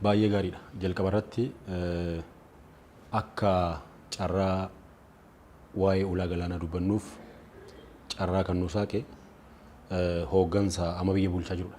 Baay'ee gaariidha. Jalqaba irratti akka carraa waa'ee ulaa galaanaa dubbannuuf carraa kan nu saaqe hooggansa amma biyya bulchaa jirudha.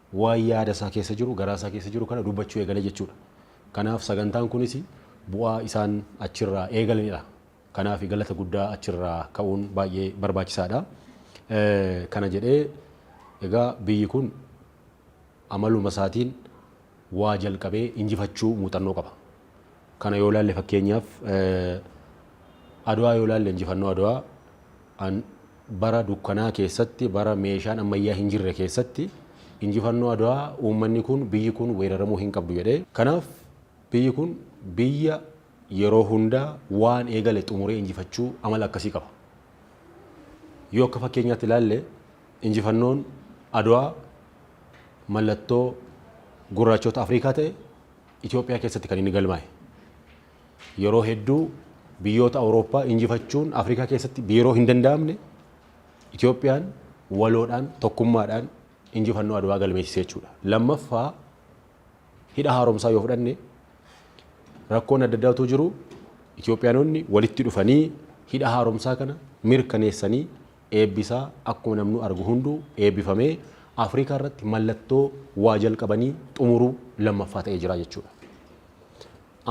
Waan yaada isaa keessa jiru, garaa isaa keessa jiru kana dubbachuu eegale jechuudha. Kanaaf sagantaan kunis bu'aa isaan achirraa eegalanidha. Kanaaf galata guddaa achirraa ka'uun baay'ee barbaachisaadha. Kana jedhee egaa biyyi kun amaluma isaatiin waa jalqabee injifachuu muuxannoo qaba. Kana yoo ilaalle fakkeenyaaf Adwaa yoo ilaalle injifannoo Adwaa an bara dukkanaa keessatti bara meeshaan ammayyaa hin jirre keessatti injifannoo Adwaa uummanni kun biyyi kun weeraramuu hin qabdu jedhe. Kanaaf biyyi kun biyya yeroo hundaa waan eegale xumuree injifachuu amala akkasii qaba. Yoo akka fakkeenyaatti ilaalle injifannoon Adwaa mallattoo gurraachoota Afriikaa ta'e Itoophiyaa keessatti kan inni galmaa'e. Yeroo hedduu biyyoota Awurooppaa injifachuun Afrikaa keessatti biiroo hin danda'amne Itoophiyaan waloodhaan tokkummaadhaan injifannoo Adwaa galmeessise jechuudha. Lammaffaa hidha haaromsaa yoo fudhanne rakkoon adda addaa utuu jiru Itoophiyaanonni walitti dhufanii hidha haaromsaa kana mirkaneessanii Eebbi isaa akkuma namnuu argu hunduu eebbifamee Afrikaa irratti mallattoo waa jalqabanii xumuruu lammaffaa ta'ee jira jechuudha.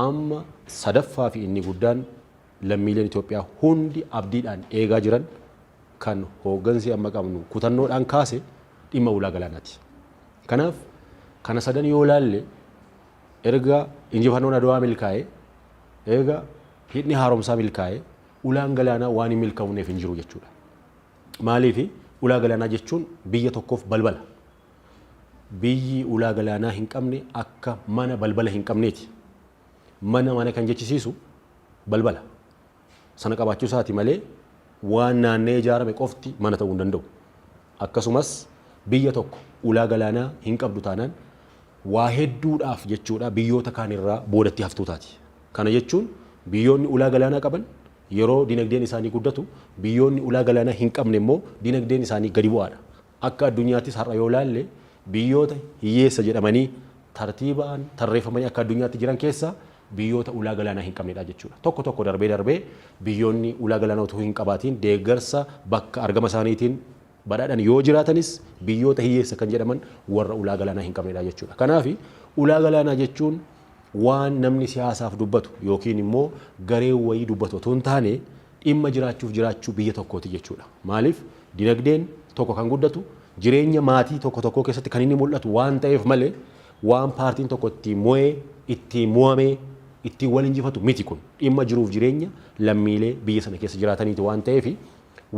Amma sadaffaa fi inni guddaan lammiileen Itoophiyaa hundi abdiidhaan eegaa jiran kan hooggansi amma qabnu kutannoodhaan kaase dhimma ulaa galaanaati. Kanaaf kana sadan yoo laalle erga injifannoon Adwaa milkaa'e, erga hidhni haaromsaa milkaa'e, ulaan galaanaa waan hin milkaa'uneef hin jiru jechuudha. Maaliif ulaa galaanaa jechuun biyya tokkoof balbala. Biyyi ulaa galaanaa hin qabne akka mana balbala hin qabneeti. Mana mana kan jechisiisu balbala. Sana qabaachuu isaati malee waan naanna'ee ijaarame qofti mana ta'uu hin danda'u. Akkasumas biyya tokko ulaa galaanaa hin qabdu taanaan waa hedduudhaaf jechuudha biyyoota kaan irraa boodatti haftuu taati. Kana jechuun biyyoonni ulaa galaanaa qaban yeroo dinagdeen isaanii guddatu, biyyoonni ulaa galaanaa hin qabne immoo dinagdeen isaanii gadi bu'aadha. Akka addunyaattis har'a yoo ilaalle biyyoota hiyyeessa jedhamanii tartiibaan tarreeffamanii akka addunyaatti jiran keessaa biyyoota ulaa galaanaa hin qabnedha jechuudha. Tokko tokko darbee darbee biyyoonni ulaa galaanaa utuu hin qabaatiin deeggarsa bakka argama isaaniitiin badhaadhan yoo jiraatanis biyyoota hiyyeessa kan jedhaman warra ulaa galaanaa hin qabnedha jechuudha. Kanaaf ulaa galaanaa jechuun waan namni siyaasaaf dubbatu yookiin immoo gareen wayii dubbatu otoo hin taane dhimma jiraachuuf jiraachuu biyya tokkooti jechuudha. Maaliif dinagdeen tokko kan guddatu jireenya maatii tokko tokkoo keessatti kan inni mul'atu waan ta'eef malee waan paartiin tokko ittiin mo'ee, ittiin mo'amee, ittiin wal injifatu miti kun. Dhimma jiruuf jireenya lammiilee biyya sana keessa jiraataniiti waan ta'eef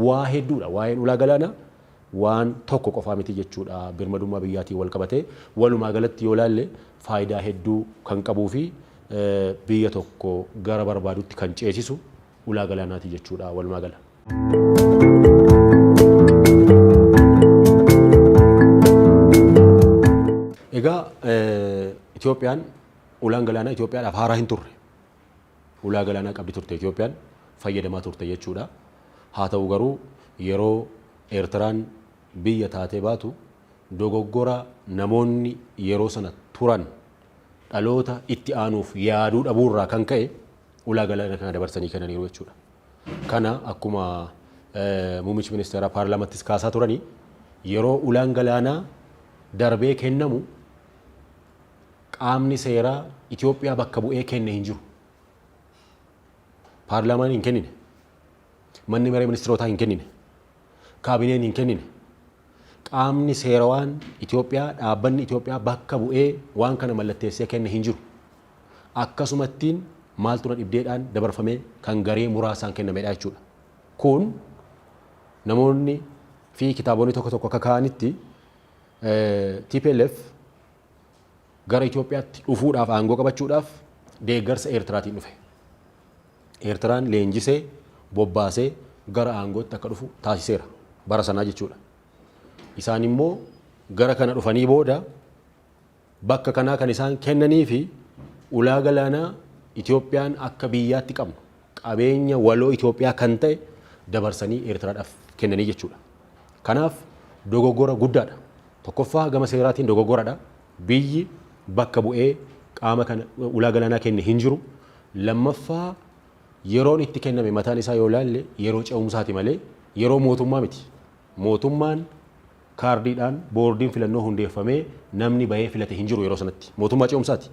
Waa hedduudha. Waa'een ulaa galaanaa waan tokko qofaa miti jechuudha. Birmadummaa biyyaatiin walqabatee walumaa galatti yoo ilaalle faayidaa hedduu kan qabuufi biyya tokko gara barbaadutti kan ceesisu ulaa galaanaati jechuudha walumaa gala. Egaa Itoophiyaan ulaan galaanaa Itoophiyaadhaaf haaraa hinturre. Ulaa galaanaa qabdi turte Itoophiyaan, fayyadamaa turte jechuudha. Haa ta'u garuu yeroo Eertiraan biyya taatee baatu dogoggora namoonni yeroo sana turan dhaloota itti aanuuf yaaduu dhabuu irraa kan ka'e ulaa galaana kana dabarsanii kennaniiru jechuudha. Kana akkuma muummichi ministeeraa paarlaamattis kaasaa turanii yeroo ulaan galaanaa darbee kennamu qaamni seeraa Itoophiyaa bakka bu'ee kenne hin jiru. Paarlaamaan hin kennine. Manni maree ministirootaa hin kennine. Kaabineen hin kennine. Qaamni seerawaan Itoophiyaa dhaabbanni Itoophiyaa bakka bu'ee waan kana mallatteessee kenne hin jiru. Akkasumattiin maaltu na dhibdeedhaan dabarfamee kan garee muraasaan kennamedha jechuudha. Kun namoonni fi kitaabonni tokko tokko akka kaa'anitti TPLF gara Itoophiyaatti dhufuudhaaf aangoo qabachuudhaaf deeggarsa Eertiraatiin dhufe. Eertiraan leenjisee bobbaasee gara aangootti akka dhufu taasiseera bara sanaa jechuudha. Isaan immoo gara kana dhufanii booda bakka kanaa kan isaan kennanii fi ulaa galaanaa Itoophiyaan akka biyyaatti qabnu qabeenya waloo Itoophiyaa kan ta'e dabarsanii Eertiraadhaaf kennanii jechuudha. Kanaaf dogoggora guddaadha. Tokkoffaa gama seeraatiin dogoggoradha. Biyyi bakka bu'ee qaama kana ulaa galaanaa kenne hin jiru. Lammaffaa yeroon itti kenname mataan isaa yoo ilaalle yeroo ce'umsaati malee yeroo mootummaa miti. Mootummaan kaardiidhaan boordiin filannoo hundeeffamee namni bahee filate hin jiru yeroo sanatti. Mootummaa ce'umsaati.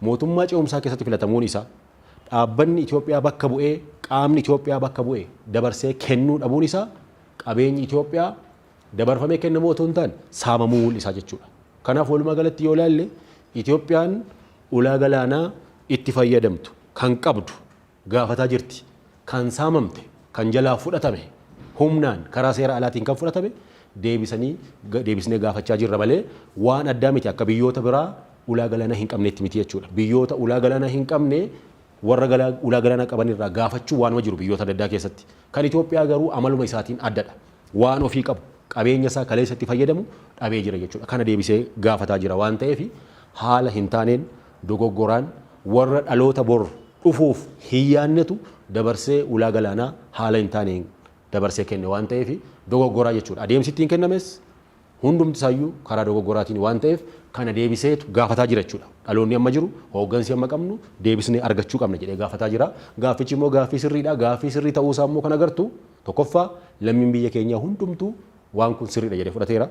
Mootummaa ce'umsaa keessatti filatamuun isaa dhaabbanni Itoophiyaa bakka bu'ee, qaamni Itoophiyaa bakka bu'e dabarsee kennuu dhabuun isaa qabeenyi Itoophiyaa dabarfamee kennamuu otoo hin taane saamamuu mul'isa jechuudha. Kanaaf walumaa galatti yoo ilaalle Itoophiyaan ulaa galaanaa itti fayyadamtu kan qabdu gaafataa jirti. kan saamamte, kan jalaa fudhatame, humnaan karaa seera alaatiin kan fudhatame deebisanii deebisnee gaafachaa jirra malee waan addaa miti akka biyyoota biraa ulaa galaanaa hin qabneetti miti jechuudha. Biyyoota ulaa galaanaa hin qabne warra ulaa galaanaa qaban irraa gaafachuu waanuma jiru biyyoota adda addaa keessatti. Kan Itoophiyaa garuu amaluma isaatiin addadha. waan ofii qabu, qabeenya isaa kaleessa itti fayyadamu dhabee jira jechuudha. Kana deebisee gaafataa jira waan ta'eef haala hin taaneen, dogoggoraan warra dhaloota bor dhufuuf hin yaannetu dabarsee ulaa galaanaa haala hin taaneen dabarsee kenne waan ta'eef dogoggoraa jechuudha. Adeemsi ittiin kennames Hundumti isaayyuu karaa dogoggoraatiin waan ta'eef kana deebiseetu gaafataa jira jechuudha. Dhaloonni amma jiru, hooggansi amma qabnu deebisnee argachuu qabna jedhee gaafataa jira. Gaaffichi immoo gaaffii sirriidha. Gaaffii sirrii ta'uu isaa immoo kan agartu tokkoffaa lammiin biyya keenyaa hundumtuu waan kun sirriidha jedhee fudhateera.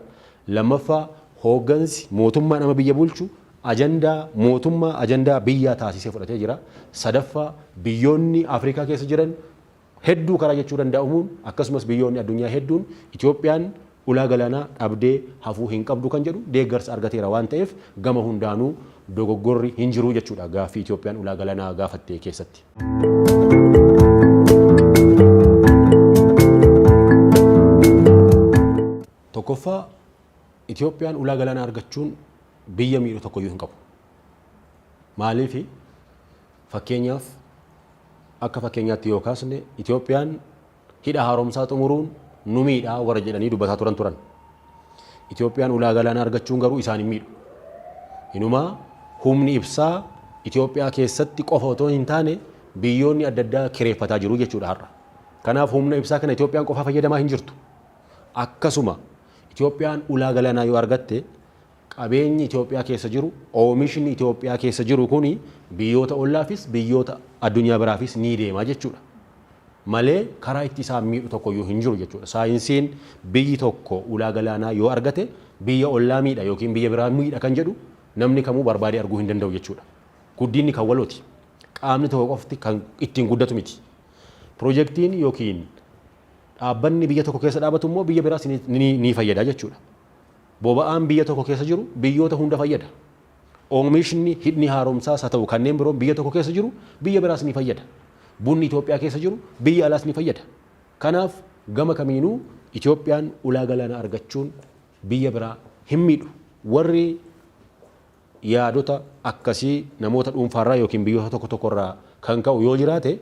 Lammaffaa hooggansi mootummaan amma biyya bulchu ajandaa mootummaa ajandaa biyyaa taasisee fudhatee jira. Sadaffaa biyyoonni Afrikaa keessa jiran hedduu karaa jechuu dandaa'umuun akkasumas biyyoonni addunyaa hedduun Itoophiyaan ulaa galaanaa dhabdee hafuu hin qabdu kan jedhu deeggarsa argateera waan ta'eef gama hundaanuu dogoggorri hin jiru jechuudha gaaffii Itoophiyaan ulaa galanaa gaafatte keessatti. Tokkoffaa Itoophiyaan ulaa galaanaa argachuun biyya miidhu tokkoyyuu hin qabu. Maaliif Fakkeenyaaf, akka fakkeenyaatti yoo kaasne Itoophiyaan Hidha Haaromsaa xumuruun nu miidha warra jedhanii dubbataa turan turan. Itoophiyaan ulaa galaanaa argachuun garuu isaan hin miidhu. Inumaa humni ibsaa Itoophiyaa keessatti qofa otoo hin taane biyyoonni adda addaa kireeffataa jiru jechuudha har'a. Kanaaf humna ibsaa kana Itoophiyaan qofaa fayyadamaa hin jirtu. Akkasuma Itoophiyaan ulaa galaanaa yoo argatte Qabeenyi Itoophiyaa keessa jiru, oomishni Itoophiyaa keessa jiru kun biyyoota ollaafis, biyyoota addunyaa biraafis ni deema jechuudha. Malee karaa itti isaan miidhu tokkoyyuu hin jiru jechuudha. Saayinsiin biyyi tokko ulaa galaanaa yoo argate biyya ollaa miidha yookiin biyya biraa miidha kan jedhu namni kamuu barbaadee arguu hin danda'u jechuudha. Guddinni kan walooti. Qaamni tokko qofti kan ittiin guddatu miti. Pirojektiin yookiin dhaabbanni biyya tokko keessa dhaabatu immoo biyya biraas ni fayyada jechuudha. Boba'aan biyya tokko keessa jiru biyyoota hunda fayyada. Oomishni hidhni haaromsaas haa ta'u kanneen biroon biyya tokko keessa jiru biyya biraas ni fayyada. Bunni Itoophiyaa keessa jiru biyya alaas ni fayyada. Kanaaf gama kamiinuu Itoophiyaan ulaa galaanaa argachuun biyya biraa hin miidhu. Warri yaadota akkasii namoota dhuunfaarraa yookiin biyyoota tokko tokkorraa kan ka'u yoo jiraate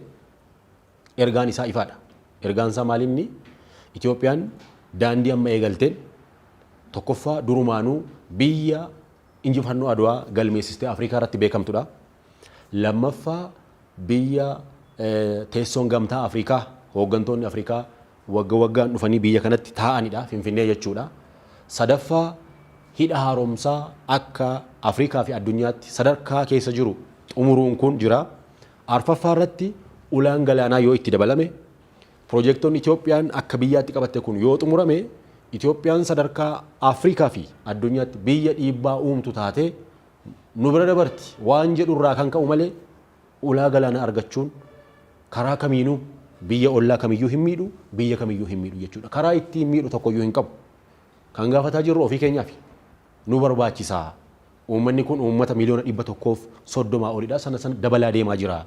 Ergaan isaa ifaadha. Ergaan isaa maalinni? Itoophiyaan daandii amma eegalteen tokkoffaa durumaanuu biyya injifannoo Adwaa galmeessistee Afrikaa irratti beekamtudha. Lammaffaa biyya teessoon gamtaa Afrikaa hooggantoonni Afrikaa wagga waggaan dhufanii biyya kanatti taa'anidha Finfinnee jechuudha. Sadaffaa hidha haaromsaa akka Afrikaa fi addunyaatti sadarkaa keessa jiru xumuruun kun jira. Arfaffaa irratti ulaan galaanaa yoo itti dabalame, pirojeektonni Itoophiyaan akka biyyaatti qabatte kun yoo xumurame, Itoophiyaan sadarkaa Afrikaa fi addunyaatti biyya dhiibbaa uumtu taatee nu bira dabarti waan jedhu irraa kan ka'u malee ulaa galaanaa argachuun karaa kamiinuu biyya ollaa kamiyyuu hin miidhu, biyya kamiyyuu hin miidhu jechuudha. Karaa ittiin miidhu tokkoyyuu hin qabu. Kan gaafataa jirru ofii keenyaafi. nu barbaachisa. Uummanni kun uummata miliyoona 130 olidha. Sana sana dabalaa deemaa jira.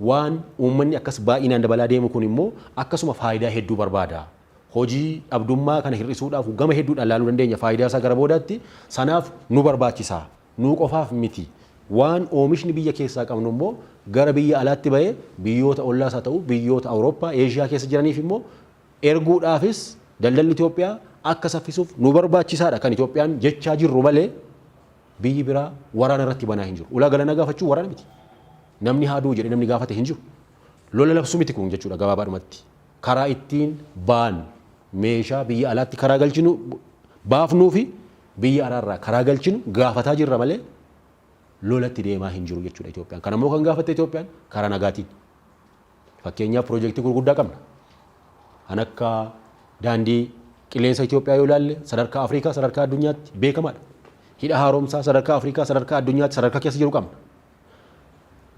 Waan uummanni akkas baay'inaan dabalaa deemu kun immoo akkasuma faayidaa hedduu barbaada. Hojii dhabdummaa kana hir'isuudhaaf gama hedduudhaan ilaaluu dandeenya faayidaa isaa gara boodaatti. Sanaaf nu barbaachisa. Nuu qofaaf miti. Waan oomishni biyya keessaa qabnu immoo gara biyya alaatti ba'ee biyyoota ollaas haa ta'u biyyoota Awurooppaa, Eeshiyaa keessa jiraniif immoo erguudhaafis daldalli Itoophiyaa akka saffisuuf nu barbaachisaadha kan Itoophiyaan jechaa jirru malee biyyi biraa waraana irratti banaa hin jiru. Ulaa galanaa gaafachuun waraana miti. Namni haa du'u jedhee namni gaafate hin jiru. Lola labsuu miti kun jechuudha gabaabaadhumatti. Karaa ittiin baan meeshaa biyya alaatti karaa galchinu baafnuu fi biyya alaarraa karaa galchinu gaafataa jirra malee lolatti deemaa hin jiru jechuudha Itoophiyaan. Kan ammoo kan gaafatte Itoophiyaan karaa nagaatiin. Fakkeenyaaf piroojeektii gurguddaa qabna. Kan akka daandii qilleensa Itoophiyaa yoo ilaalle sadarkaa Afrikaa sadarkaa addunyaatti beekamaadha. Hidha haaromsaa sadarkaa Afrikaa sadarkaa addunyaatti sadarkaa keessa jiru qabna.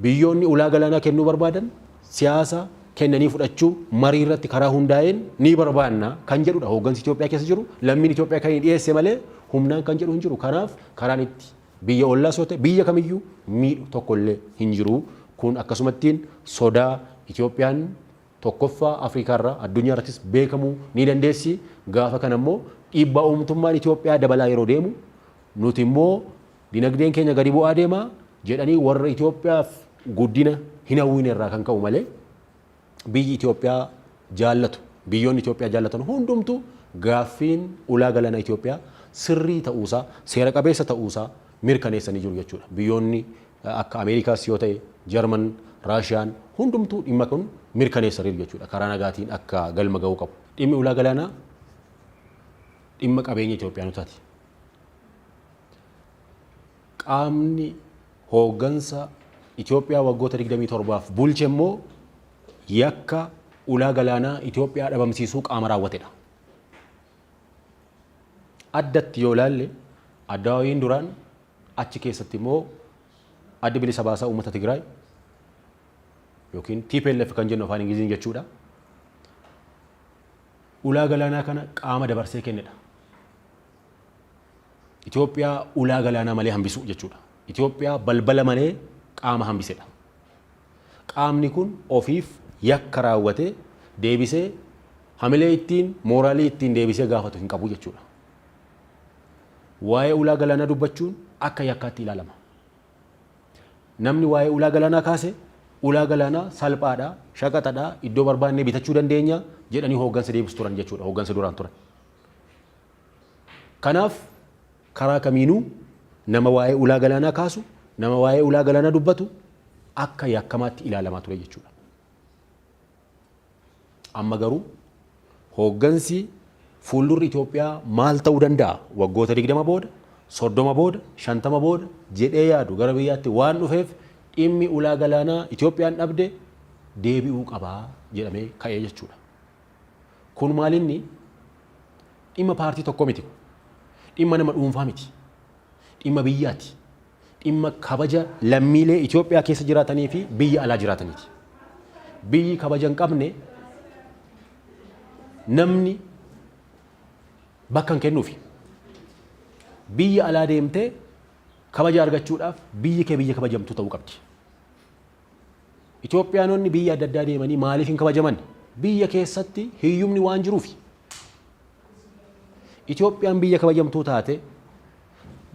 Biyyoonni ulaa galaanaa kennuu barbaadan siyaasa kennanii fudhachuu marii irratti karaa hundaa'een ni barbaanna kan jedhudha. Hooggansi Itoophiyaa keessa jiru lammiin Itoophiyaa kan inni dhiyeesse malee humnaan kan jedhu hin jiru. Kanaaf karaan itti Biyya ollaas yoo ta'e biyya kamiyyuu miidhu tokkollee hin jiru. Kun akkasumattiin sodaa Itoophiyaan tokkoffaa Afrikaarraa addunyaarrattis beekamuu ni dandeessi. Gaafa kanammoo dhiibbaa uumtummaan Itoophiyaa dabalaa yeroo deemu nutimmoo dinagdeen keenya gadi bu'aa deema jedhanii warra Itoophiyaaf guddina hin hawwinerraa kan ka'u malee biyyi Itoophiyaa jaallatu, biyyoonni Itoophiyaa jaallatan hundumtuu gaaffiin ulaa galaanaa Itoophiyaa sirrii ta'uusaa, seera qabeessa ta'uusaa mirkaneessanii jiru jechuudha. Biyyoonni akka Ameerikaas yoo ta'e, Jarman, Raashiyaan hundumtuu dhimma kun mirkaneessaniiru jechuudha. Karaa nagaatiin akka galma ga'uu qabu. Dhimmi ulaa galaanaa dhimma qabeenya Itoophiyaanotaati. Qaamni hooggansa Itoophiyaa waggoota 27f bulche immoo yakka ulaa galaanaa Itoophiyaa dhabamsiisuu qaama raawwatedha. Addatti yoo ilaalle Addawaawiin duraan achi keessatti immoo Addi Bilisa Baasaa Uummata Tigraay yookiin TPLF kan jennu afaan Ingiliziin jechuudha. Ulaa galaanaa kana qaama dabarsee kennedha. Itoophiyaa ulaa galaanaa malee hambisuu jechuudha. Itoophiyaa balbala malee qaama hambisedha. Qaamni kun ofiif yakka raawwatee deebisee hamilee ittiin mooraalii ittiin deebisee gaafatu hin qabu jechuudha. Waa'ee ulaa galaanaa dubbachuun akka yakkaatti ilaalama. Namni waa'ee ulaa galaanaa kaase ulaa galaanaa salphaadha, shaqaxadha, iddoo barbaannee bitachuu dandeenya jedhanii hooggansa deebisu turan jechuudha, hooggansa duraan turan. Kanaaf karaa kamiinuu nama waa'ee ulaa galaanaa kaasu, nama waa'ee ulaa galaanaa dubbatu akka yakkamaatti ilaalamaa ture jechuudha. Amma garuu hooggansi fuuldurri Itoophiyaa maal ta'uu danda'a waggoota 20 booda, 30 booda, 50 booda jedhee yaadu gara biyyaatti waan dhufeef dhimmi ulaa galaanaa Itoophiyaan dhabde deebi'uu qaba jedhamee ka'ee jechuudha. Kun maalinni dhimma paartii tokko miti kun. Dhimma nama dhuunfaa miti. Dhimma biyyaati. Dhimma kabaja lammiilee Itoophiyaa keessa jiraatanii fi biyya alaa jiraataniiti. Biyyi kabaja hin qabne namni bakka hin kennuufi. Biyya alaa deemtee kabaja argachuudhaaf biyyi kee biyya kabajamtuu ta'uu qabdi. Itoophiyaanonni biyya adda addaa deemanii maaliif hin kabajaman? Biyya keessatti hiyyumni waan jiruufi. Itoophiyaan biyya kabajamtuu taate,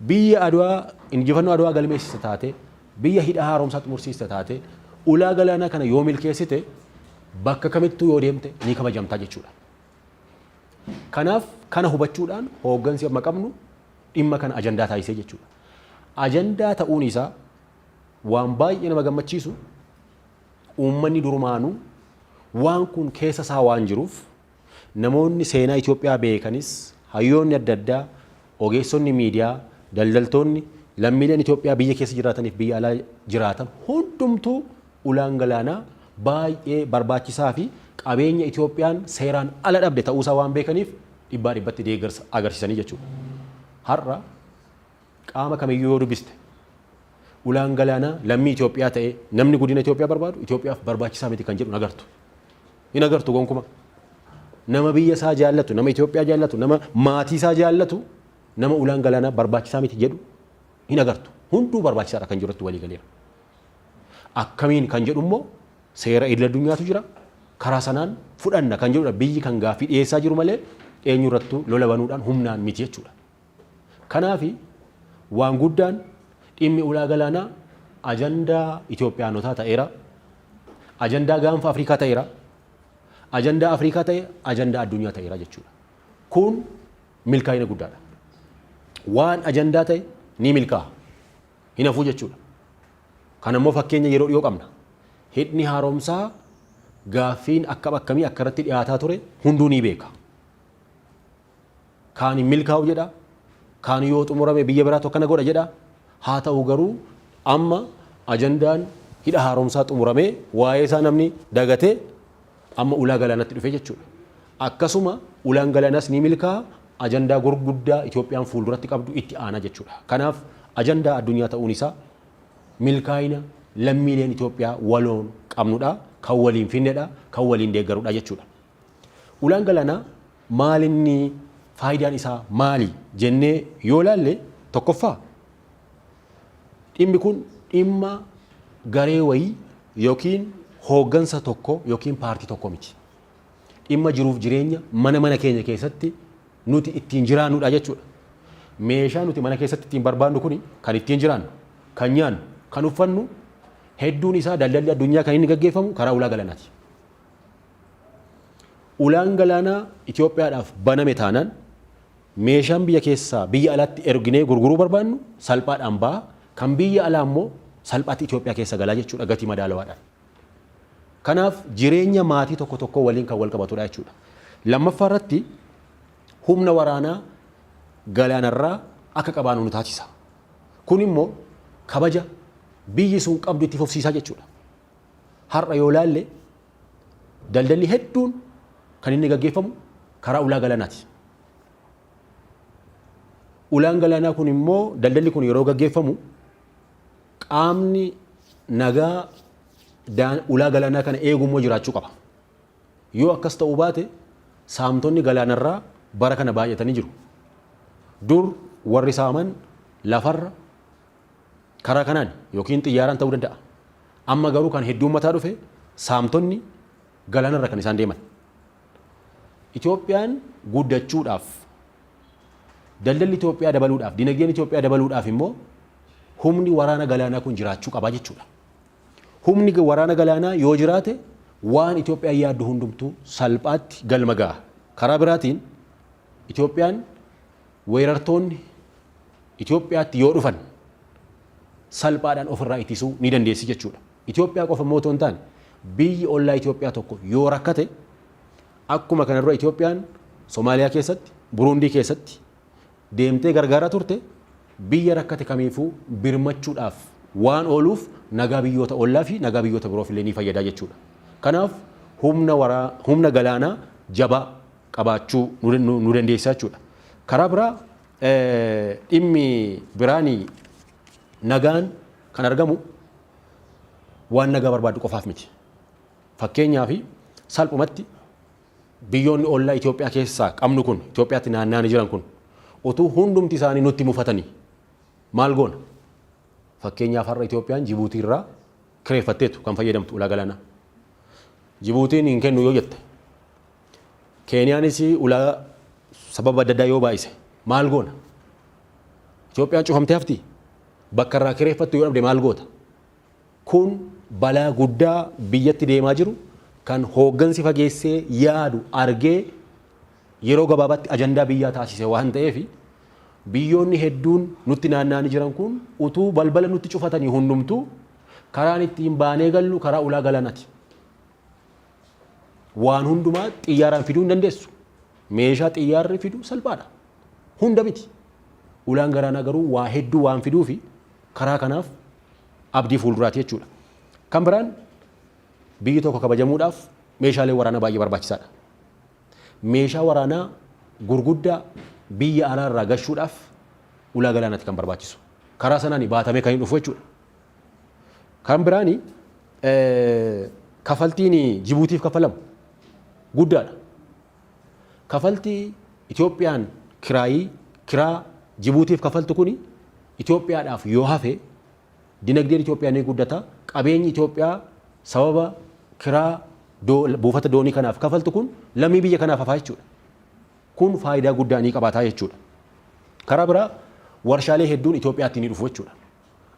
biyya Adwaa injifannoo Adwaa galmeessiste taate, biyya hidha haaromsaa xumursiiste taate, ulaa galaanaa kana yoo milkeessite bakka kamittuu yoo deemte ni kabajamtaa jechuudha. Kanaaf kana hubachuudhaan hooggansi amma qabnu dhimma kana ajandaa taasisee jechuudha. Ajandaa ta'uun isaa Waan baay'ee nama gammachiisu uummanni durumaanuu waan kun keessa isaa waan jiruuf namoonni seenaa Itoophiyaa beekanis hayyoonni adda addaa ogeessonni miidiyaa daldaltoonni lammiileen Itoophiyaa biyya keessa jiraataniif biyya alaa jiraatan hundumtuu ulaan galaanaa baay'ee barbaachisaa fi qabeenya Itoophiyaan seeraan ala dhabde ta'uusaa waan beekaniif dhibbaa dhibbatti deeggarsa agarsiisanii jechuudha. Har'a Qaama kamiyyuu yoo dubbiste, ulaan galaanaa lammii Itoophiyaa ta'ee namni guddina Itoophiyaa barbaadu Itoophiyaaf barbaachisaa miti kan jedhu hin agartu. Hin agartu gonkumaa. Nama biyya isaa jaallatu, nama Itoophiyaa jaallatu, nama maatii isaa jaallatu, nama ulaan galaanaa barbaachisaa miti jedhu hin agartu. Hunduu barbaachisaadha kan jedhu irratti walii galeera. Akkamiin kan jedhu immoo seera idil addunyaatu jira. Karaa sanaan fudhanna kan jedhudha biyyi kan gaaffii dhiyeessaa jiru malee eenyurrattuu lola banuudhaan humnaan miti jechuudha. Kanaafi, waan guddaan dhimmi ulaa galaanaa ajandaa Itoophiyaanotaa ta'eera, ajandaa Gaanfa Afrikaa ta'eera, ajandaa Afrikaa ta'ee ajandaa addunyaa ta'eera jechuudha. Kun milkaa'ina guddaadha. Waan ajandaa ta'e ni milkaa'a. Hin hafuu jechuudha. Kana immoo fakkeenya yeroo dhiyoo qabna. Hidhni haaromsaa gaaffiin akkam akkamii akka irratti dhiyaataa ture hunduu ni beeka. Kaan hin milkaa'u jedha, kaan yoo xumurame biyya biraatu akkana godha jedha. Haa ta'u garuu amma ajandaan hidha haaromsaa xumuramee waa'ee isaa namni dagatee amma ulaa galaanatti dhufe jechuudha. Akkasuma ulaan galaanaas ni milkaa'a, ajandaa gurguddaa Itoophiyaan fuulduratti qabdu itti aana jechuudha. Kanaaf ajandaa addunyaa ta'uun isaa milkaa'ina lammiileen Itoophiyaa waloon qabnudha, kan waliin finnedha, kan waliin deeggarudha jechuudha. Ulaan galaanaa maalinni faayidaan isaa maali jennee yoo laalle tokkoffaa dhimmi kun dhimma garee wayii yookiin hooggansa tokko yookiin paartii tokko miti. Dhimma jiruuf jireenya mana mana keenya keessatti nuti ittiin jiraannudha jechuudha. Meeshaa nuti mana keessatti ittiin barbaadnu kuni kan ittiin jiraannu, kan nyaannu, kan uffannu hedduun isaa daldalli addunyaa kan inni gaggeeffamu karaa ulaa galanaati. Ulaan galaanaa Itoophiyaadhaaf baname taanaan meeshaan biyya keessaa biyya alaatti erginee gurguruu barbaannu salphaadhaan baha, kan biyya alaa immoo salphaatti Itoophiyaa keessa gala jechuudha gatii madaalawaadhaan. Kanaaf jireenya maatii tokko tokkoo waliin kan wal qabatudha jechuudha. Lammaffaa irratti humna waraanaa galaanarraa akka qabaanu nu taasisa. Kun immoo kabaja biyyi sun qabdu itti fufsiisa jechuudha. Har'a yoo ilaalle daldalli hedduun kan inni gaggeeffamu karaa ulaa galaanaati. Ulaan galaanaa kun immoo daldalli kun yeroo gaggeeffamu qaamni nagaa daan- ulaa galaanaa kana eegu immoo jiraachuu qaba. Yoo akkas ta'uu baate saamtonni galaanarraa bara kana baay'atanii jiru. Dur warri saaman lafarra Karaa kanaan yookiin xiyyaaraan ta'uu danda'a. Amma garuu kan hedduummataa dhufe saamtonni galaanarra kan isaan deeman. Itoophiyaan guddachuudhaaf, daldalli Itoophiyaa dabaluudhaaf, dinagdeen Itoophiyaa dabaluudhaaf immoo humni waraana galaanaa kun jiraachuu qaba jechuudha. Humni waraana galaanaa yoo jiraate waan Itoophiyaan yaaddu hundumtuu salphaatti galma ga'a. Karaa biraatiin Itoophiyaan weerartoonni Itoophiyaatti yoo dhufan salphaadhaan ofirraa ittisuu ni dandeessi jechuudha. Itoophiyaa qofa immoo otoo hin taane biyyi ollaa Itoophiyaa tokko yoo rakkate akkuma kana dura Itoophiyaan Somaaliyaa keessatti, Buruundii keessatti deemtee gargaaraa turte biyya rakkate kamiifuu birmachuudhaaf waan ooluuf nagaa biyyoota ollaa fi nagaa biyyoota biroof illee ni fayyada jechuudha. Kanaaf humna waraa humna galaanaa jabaa qabaachuu nu dandeessisa jechuudha. Karaa biraa dhimmi biraan nagaan kan argamu waan nagaa barbaaddu qofaaf miti. Fakkeenyaaf salphumatti biyyoonni ollaa Itoophiyaa keessaa qabnu kun Itoophiyaatti naanna'anii jiran kun utuu hundumti isaanii nutti mufatanii maal goona? Fakkeenyaaf har'a Itoophiyaan Jibuutii irraa kireeffatteetu kan fayyadamtu ulaa galaanaa. Jibuutiin hin kennu yoo jette Keeniyaanis ulaa sababa adda addaa yoo baay'ise maal goona? Itoophiyaan cufamtee haftii? Bakka irraa kireeffattu yoo dhabde maal goota? Kun balaa guddaa biyyatti deemaa jiru kan hooggansi fageessee yaadu argee yeroo gabaabaatti ajandaa biyyaa taasise waan ta'eef biyyoonni hedduun nutti naanna'anii jiran kun utuu balbala nutti cufatanii hundumtuu karaan ittiin baanee gallu karaa ulaa galaanati. Waan hundumaa xiyyaaraan fiduu hin dandeessu. Meeshaa xiyyaarri fidu salphaadha. Hunda miti. Ulaan galaanaa garuu waa hedduu waan fiduufi karaa kanaaf abdii fuulduraati jechuudha. Kan biraan biyyi tokko kabajamuudhaaf meeshaalee waraanaa baay'ee barbaachisaadha. Meeshaa waraanaa gurguddaa biyya alaa irraa gashuudhaaf ulaa galaanaatti kan barbaachisu. Karaa sanaan baatamee kan hin dhufu jechuudha. Kan biraan kafaltiin Jibuutiif kaffalamu guddaadha. Kafaltii Itoophiyaan kiraayii kiraa Jibuutiif kaffaltu kuni Itoophiyaadhaaf yoo hafe dinagdeen Itoophiyaa ni guddata. Qabeenyi Itoophiyaa sababa kiraa buufata doonii kanaaf kafaltu kun lammii biyya kanaaf hafaa jechuudha. Kun faayidaa guddaa ni qabaataa jechuudha. Karaa biraa warshaalee hedduun Itoophiyaatti ni dhufu jechuudha.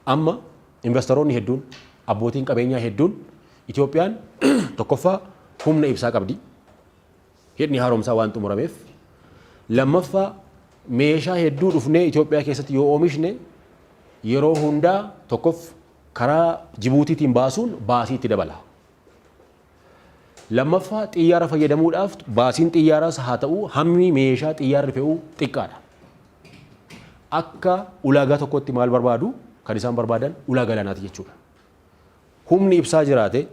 Amma invastaroonni hedduun, abbootiin qabeenyaa hedduun Itoophiyaan tokkoffaa humna ibsaa qabdi. Hidhni haaromsaa waan xumurameef. Lammaffaa meeshaa hedduu dhufnee Itoophiyaa keessatti yoo oomishne yeroo hundaa tokkoff karaa Jibuutiitiin baasuun baasii itti dabala. Lammaffaa, xiyyaara fayyadamuudhaaf baasiin xiyyaaraas haa ta'u hammi meeshaa xiyyaarri fe'u xiqqaadha. Akka ulaagaa tokkotti maal barbaadu? Kan isaan barbaadan ulaa galaanaati jechuudha. Humni ibsaa jiraate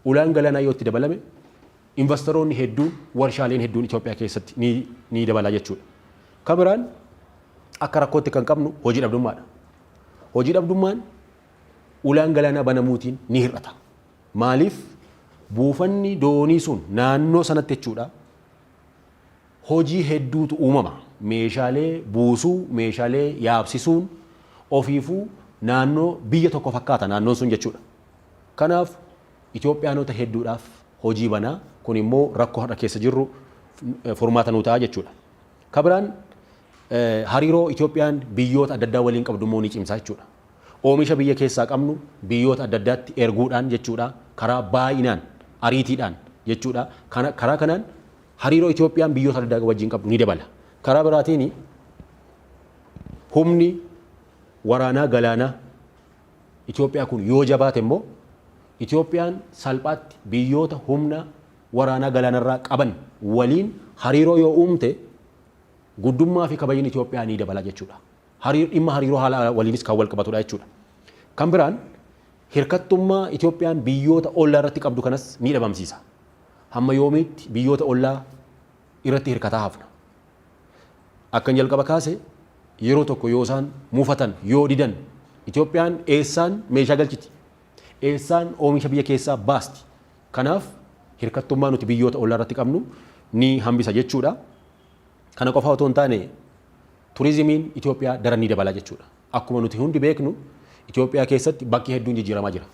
ulaan galaanaa yoo itti dabalame invastaroonni hedduun warshaaleen hedduun Itoophiyaa keessatti ni, ni dabala jechuudha. Kan biraan akka rakkootti kan qabnu hojii dhabdummaadha. Hojii dhabdummaan ulaan galaanaa banamuutiin ni hir'ata. Maaliif buufanni doonii sun naannoo sanatti jechuudha hojii hedduutu uumama. Meeshaalee buusuu, meeshaalee yaabsisuun ofiifuu naannoo biyya tokko fakkaata naannoon sun jechuudha. Kanaaf Itoophiyaanota hedduudhaaf hojii bana. Kun immoo rakkoo har'a keessa jirru furmaata nuu ta'a jechuudha. Kabiraan hariiroo Itoophiyaan biyyoota adda addaa waliin qabdu immoo ni cimsa jechuudha. Oomisha biyya keessaa qabnu biyyoota adda addaatti erguudhaan jechuudha. Karaa baay'inaan, ariitiidhaan jechuudha. Kana karaa kanaan hariiroo Itoophiyaan biyyoota adda addaa wajjin qabdu ni dabala. Karaa biraatiin humni waraanaa galaanaa Itoophiyaa kun yoo jabaate immoo Itoophiyaan salphaatti biyyoota humna waraanaa galaanarraa qaban waliin hariiroo yoo uumte guddummaa fi kabajni Itoophiyaa ni dabala jechuudha. Hariir dhimma hariiroo haala alaa waliinis kan walqabatudha jechuudha. Kan biraan hirkattummaa Itoophiyaan biyyoota ollaa irratti qabdu kanas ni dhabamsiisa. Hamma yoomiitti biyyoota ollaa irratti hirkataa hafna? Akkan jalqaba kaase yeroo tokko yoo isaan mufatan, yoo didan Itoophiyaan eessaan meeshaa galchiti? Eessaan oomisha biyya keessaa baasti? Kanaaf hirkattummaa nuti biyyoota ollaa irratti qabnu ni hambisa jechuudha. Kana qofa otoo hin taane turizimiin Itoophiyaa daran ni dabala jechuudha. Akkuma nuti hundi beeknu Itoophiyaa keessatti bakki hedduun jijjiiramaa jira.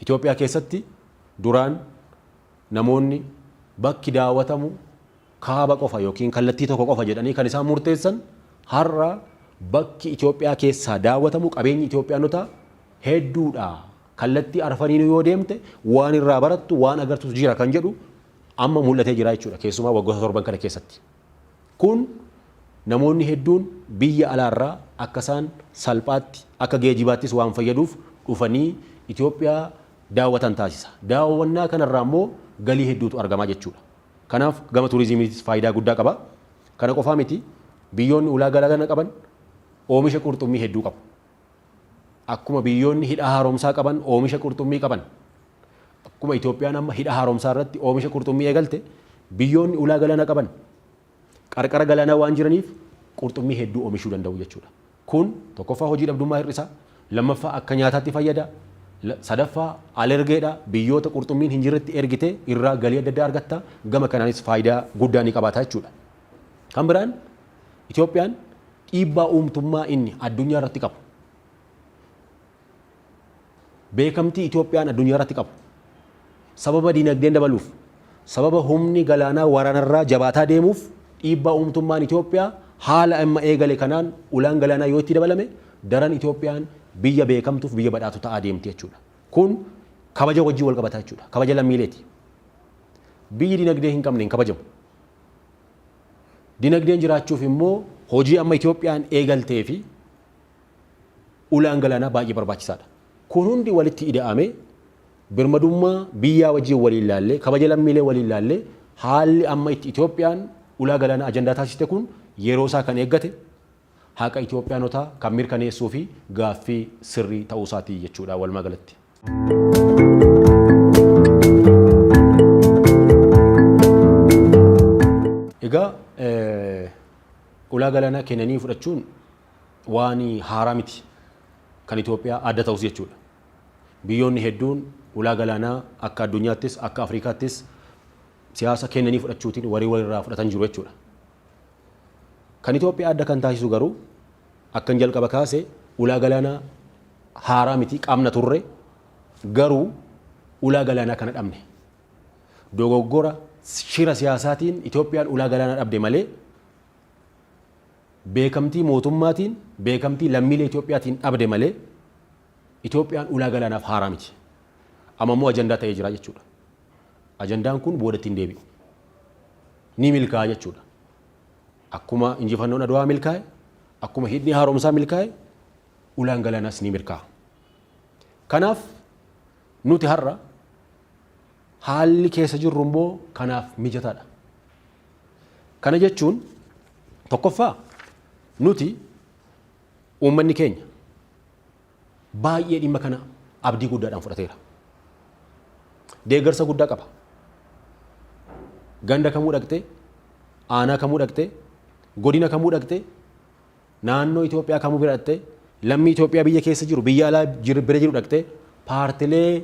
Itoophiyaa keessatti duraan namoonni bakki daawwatamu kaaba qofa yookiin kallattii tokko qofa jedhanii kan isaan murteessan har'a bakki Itoophiyaa keessaa daawwatamu qabeenyi Itoophiyaanotaa hedduudha. Kallattii arfaniinuu yoo deemte waan irraa barattu waan agartus jira kan jedhu amma mul'atee jira jechuudha keessumaa waggoota torban kana keessatti. Kun namoonni hedduun biyya alaarraa akka isaan salphaatti akka geejibaattis waan fayyaduuf dhufanii Itoophiyaa daawwatan taasisa. Daawwannaa kanarraa immoo galii hedduutu argamaa jechuudha. Kanaaf gama turizimiitis faayidaa guddaa qaba. Kana qofaa miti biyyoonni ulaa galaana qaban oomisha qurxummii hedduu qabu. Akkuma biyyoonni hidha haaromsaa qaban oomisha qurxummii qaban, akkuma Itoophiyaan amma hidha haaromsaa irratti oomisha qurxummii eegalte, biyyoonni ulaa galaana qaban qarqara galaanaa waan jiraniif qurxummii hedduu oomishuu danda'u jechuudha. Kun tokkoffaa hojii dhabdummaa hir'isa, lammaffaa akka nyaataatti fayyada, sadaffaa alergeedha, biyyoota qurxummiin hin jirretti ergitee irraa galii adda addaa argatta, gama kanaanis faayidaa guddaa ni qabaata jechuudha. Kan biraan Itoophiyaan dhiibbaa uumtummaa inni addunyaa irratti qabu, beekamtii Itoophiyaan addunyaa irratti qabu, sababa dinagdeen dabaluuf, sababa humni galaanaa waraanarraa jabaataa deemuuf dhiibbaa uumtummaan Itoophiyaa haala amma eegale kanaan ulaan galaanaa yoo itti dabalame daran Itoophiyaan biyya beekamtuuf biyya badhaatu ta'aa deemti jechuudha. Kun kabaja wajjin wal qabata jechuudha. Kabaja lammiileeti. Biyyi dinagdee hin qabne hin kabajamu. Dinagdeen jiraachuuf immoo hojii amma Itoophiyaan eegaltee fi ulaan galaanaa baay'ee barbaachisaa dha. Kun hundi walitti ida'amee birmadummaa biyyaa wajjin waliin laallee, kabaja lammiilee waliin laallee haalli amma itti Itoophiyaan ulaa galaanaa ajandaa taasiste kun yeroo isaa kan eeggate, haqa Itoophiyaanotaa kan mirkaneessuu fi gaaffii sirrii ta'uu isaati jechuu dha walumaa galatti. Egaa ulaa galaanaa kennanii fudhachuun waan haaraa miti. Kan Itoophiyaa adda ta'us jechuu dha. Biyyoonni hedduun ulaa galaanaa akka addunyaattis akka Afrikaattis siyaasa kennanii fudhachuutiin warii walirraa fudhatan jiru jechuu dha. Kan Itoophiyaa adda kan taasisu garuu akkan jalqaba kaase ulaa galaanaa haaraa miti qabna turre garuu ulaa galaanaa kana dhabne. Dogoggora shira siyaasaatiin Itoophiyaan ulaa galaanaa dhabde malee beekamtii mootummaatiin beekamtii lammiilee Itoophiyaatiin dhabde malee Itoophiyaan ulaa galaanaaf haaraa miti. Amma immoo ajandaa ta'ee jira jechuudha. Ajandaan kun boodatti hin deebi'u. ni milkaa'a jechuudha. Akkuma injifannoon Adwaa milkaa'e, akkuma hidhni haaromsaa milkaa'e, ulaan galaanaas ni milkaa'a. Kanaaf nuti har'a haalli keessa jirru immoo kanaaf mijataadha. Kana jechuun tokkoffaa nuti uummanni keenya baay'ee dhimma kana abdii guddaadhaan fudhateera. Deeggarsa guddaa qaba. Ganda kamuu dhaqxee, aanaa kamuu dhaqxee, godina kamuu dhaqxee, naannoo Itoophiyaa kamuu bira dhaqxee, lammii Itoophiyaa biyya keessa jiru, biyya alaa jiru- bira jiru dhaqxee, paartilee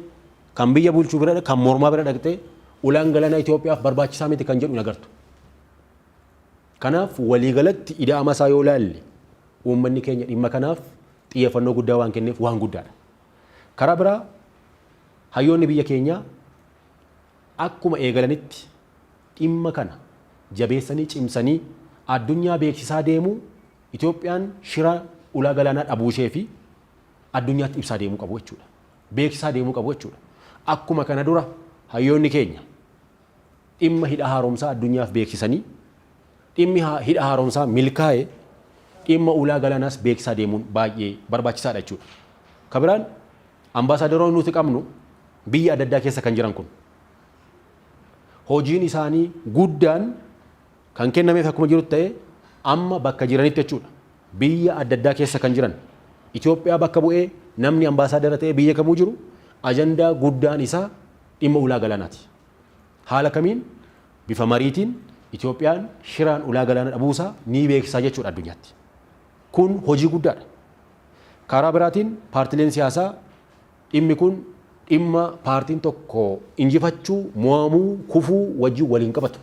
kan biyya bulchuu bira kan mormaa bira dhaqxee, ulaan galaanaa Itoophiyaaf barbaachisaa miti kan jedhu hin agartu. Kanaaf waliigalatti ida'ama isaa yoo ilaalle uummanni keenya dhimma kanaaf xiyyeeffannoo guddaa waan kenneef waan guddaadha. Karaa biraa hayyoonni biyya keenyaa akkuma eegalanitti dhimma kana jabeessanii cimsanii addunyaa beeksisaa deemuu Itoophiyaan shira ulaa galaanaa dhabuusheefi addunyaatti ibsaa deemuu qabu jechuudha. Beeksisaa deemuu qabu jechuudha. Akkuma kana dura hayyoonni keenya dhimma hidha haaromsaa addunyaaf beeksisanii Dhimmi hidha haaromsaa milkaa'e dhimma ulaa galaanaas beeksisaa deemuun baay'ee barbaachisaadha jechuudha. Ka biraan ambaasaadaronni nuti qabnu biyya adda addaa keessa kan jiran kun hojiin isaanii guddaan kan kennameef akkuma jirutti ta'ee amma bakka jiranitti jechuudha. Biyya adda addaa keessa kan jiran Itoophiyaa bakka bu'ee namni ambaasaadara ta'ee biyya kamuu jiru ajandaa guddaan isaa dhimma ulaa galaanaati. Haala kamiin bifa mariitiin Itoophiyaan shiraan ulaa galaana dhabuusaa ni beeksisaa jechuudha addunyaatti. Kun hojii guddaadha. Karaa biraatiin paartileen siyaasaa dhimmi kun dhimma paartiin tokko injifachuu, mo'amuu, kufuu wajjin wal hin qabatu.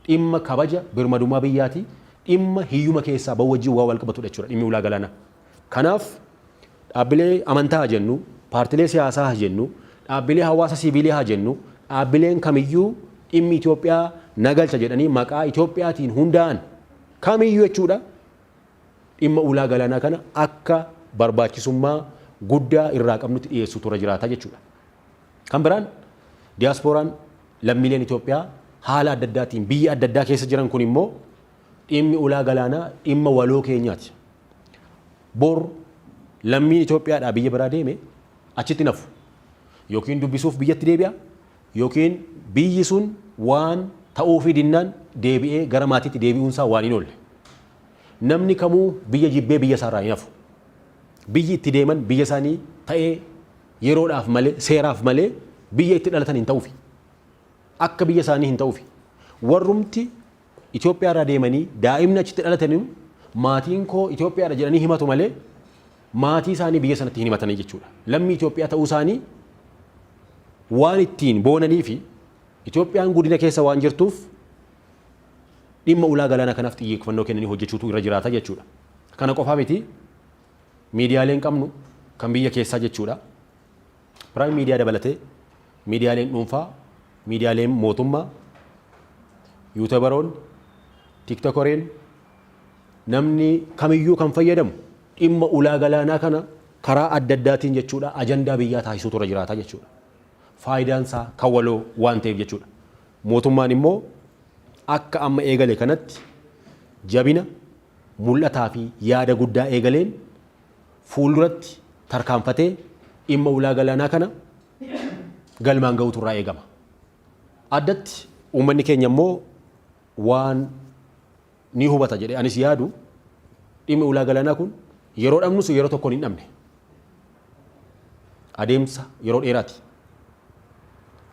dhimma kabaja birmadummaa biyyaati, dhimma hiyyuma keessaa ba'uu wajjin waan walqabatudha jechuudha dhimmi ulaa galaanaa. Kanaaf dhaabbilee amantaa haa jennu, paartilee siyaasaa haa jennu, dhaabbilee hawaasa siiviilii haa jennu, dhaabbileen kamiyyuu dhimmi Itoophiyaa na galcha jedhanii maqaa Itoophiyaatiin hundaa'an kamiyyuu jechuudha dhimma ulaa galaanaa kana akka barbaachisummaa guddaa irraa qabnutti dhiyeessuutu irra jiraata jechuudha. Kan biraan diyaaspooraan lammiileen Itoophiyaa haala adda addaatiin biyya adda addaa keessa jiran kun immoo dhimmi ulaa galaanaa dhimma waloo keenyaati. Bor lammiin Itoophiyaadhaa biyya biraa deeme achitti hin hafu. Yookiin dubbisuuf biyyatti deebi'a yookiin biyyi sun waan ta'uufii dinnaan deebi'ee gara maatiitti deebi'uun isaa waan hin oolle. Namni kamuu biyya jibbee biyya isaarraa hin hafu. Biyyi itti deeman biyya isaanii ta'ee yeroodhaaf malee, seeraaf malee biyya itti dhalatan hin ta'ufi. Akka biyya isaanii hin ta'ufi. Warrumti Itoophiyaa irraa deemanii daa'imni achitti dhalataniyu maatiin koo Itoophiyaadha jedhanii himatu malee maatii isaanii biyya sanatti hin himatanii jechuudha. Lammii Itoophiyaa ta'uu isaanii waan ittiin boonanii fi Itoophiyaan guddina keessa waan jirtuuf dhimma ulaa galaanaa kanaaf xiyyeeffannoo kennanii hojjechuutu irra jiraata jechuudha. Kana qofaa miti Miidiyaaleen qabnu kan biyya keessaa jechuudha. Prime Media dabalatee miidiyaaleen dhuunfaa, miidiyaaleen mootummaa, yuutebaroonni, tiktokoreen namni kamiyyuu kan fayyadamu dhimma ulaa galaanaa kana karaa adda addaatiin jechuudha ajandaa biyyaa taasisuutu irra jiraata jechuudha. Faayidaan isaa kan waloo waan ta'eef jechuudha. Mootummaan immoo akka amma eegale kanatti jabina mul'ataa fi yaada guddaa eegaleen fuulduratti tarkaanfatee dhimma ulaa galaanaa kana galmaan ga'uutu irraa eegama. Addatti uummanni keenya immoo waan ni hubata jedhee anis yaadu dhimmi ulaa galaanaa kun yeroo dhabnus yeroo tokkoon hin dhabne. Adeemsa yeroo dheeraati.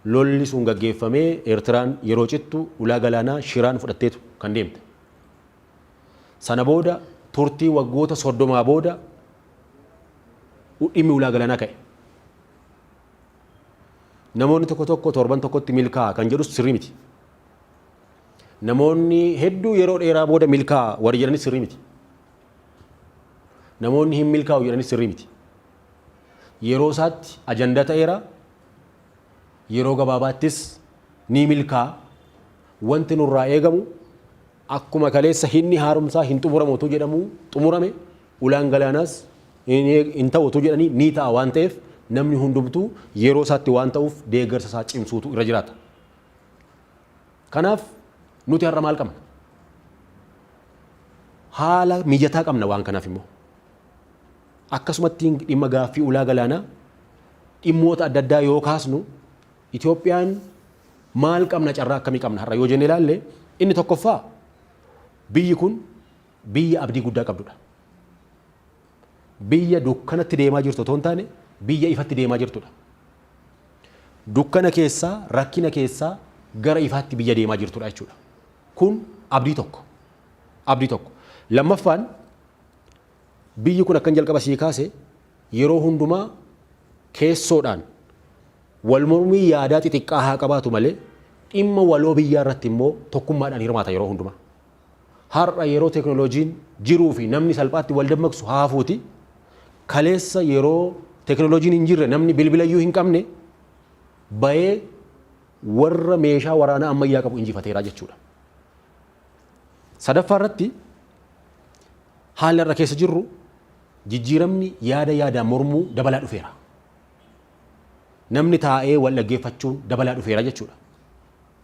Lolli sun gaggeeffamee Eertiraan yeroo cittu ulaa galaanaa shiraan fudhatteetu kan deemte. Sana booda turtii waggoota 30 booda dhimmi ulaa galanaa ka'e. Namoonni tokko tokko torban tokkotti milkaa'a kan jedhus sirrii miti. Namoonni hedduu yeroo dheeraa booda milkaa'a warri jedhanis sirrii miti. Namoonni hin milkaa'u jedhanis sirrii miti. Yeroo isaatti ajandaa ta'eera. Yeroo gabaabaattis ni milkaa'a. Wanti nurraa eegamu Akkuma kaleessa hidhni haaromsaa hin xumuramu otuu jedhamuu xumurame, ulaan galaanaas hin ta'u otuu jedhanii ni ta'a waan ta'eef namni hundumtuu yeroo isaatti waan ta'uuf deeggarsa isaa cimsuutu irra jiraata. Kanaaf nuti har'a maal qabna? Haala mijataa qabna waan kanaaf immoo. Akkasumatti dhimma gaaffii ulaa galaanaa dhimmoota adda addaa yoo kaasnu Itoophiyaan maal qabna carraa akkamii qabna har'a yoo jennee ilaalle inni tokkoffaa biyyi kun biyya abdii guddaa qabdudha. Biyya dukkanatti deemaa jirtu otoo hin taane biyya ifatti deemaa jirtudha. Dukkana keessaa rakkina keessaa gara ifaatti biyya deemaa jirtudha jechuudha. Kun abdii tokko. Abdii tokko. Lammaffaan Biyyi kun akkan jalqaba sii kaase yeroo hundumaa keessoodhaan walmormii yaadaa xixiqqaa haa qabaatu malee dhimma waloo biyyaa irratti immoo tokkummaadhaan hirmaata yeroo hundumaa. Har'a yeroo teknolojiin jiruu fi namni salphaatti wal dammaqsu haa hafuuti kaleessa yeroo teknolojiin hin jirre namni bilbila iyyuu hin qabne bayee warra meeshaa waraanaa ammayyaa qabu injifateeraa jechuudha. Sadaffaa irratti haalli har'a keessa jirru jijjiiramni yaada yaadaan mormuu dabalaa dhufeera. Namni taa'ee wal dhaggeeffachuun dabalaa dhufeera jechuudha.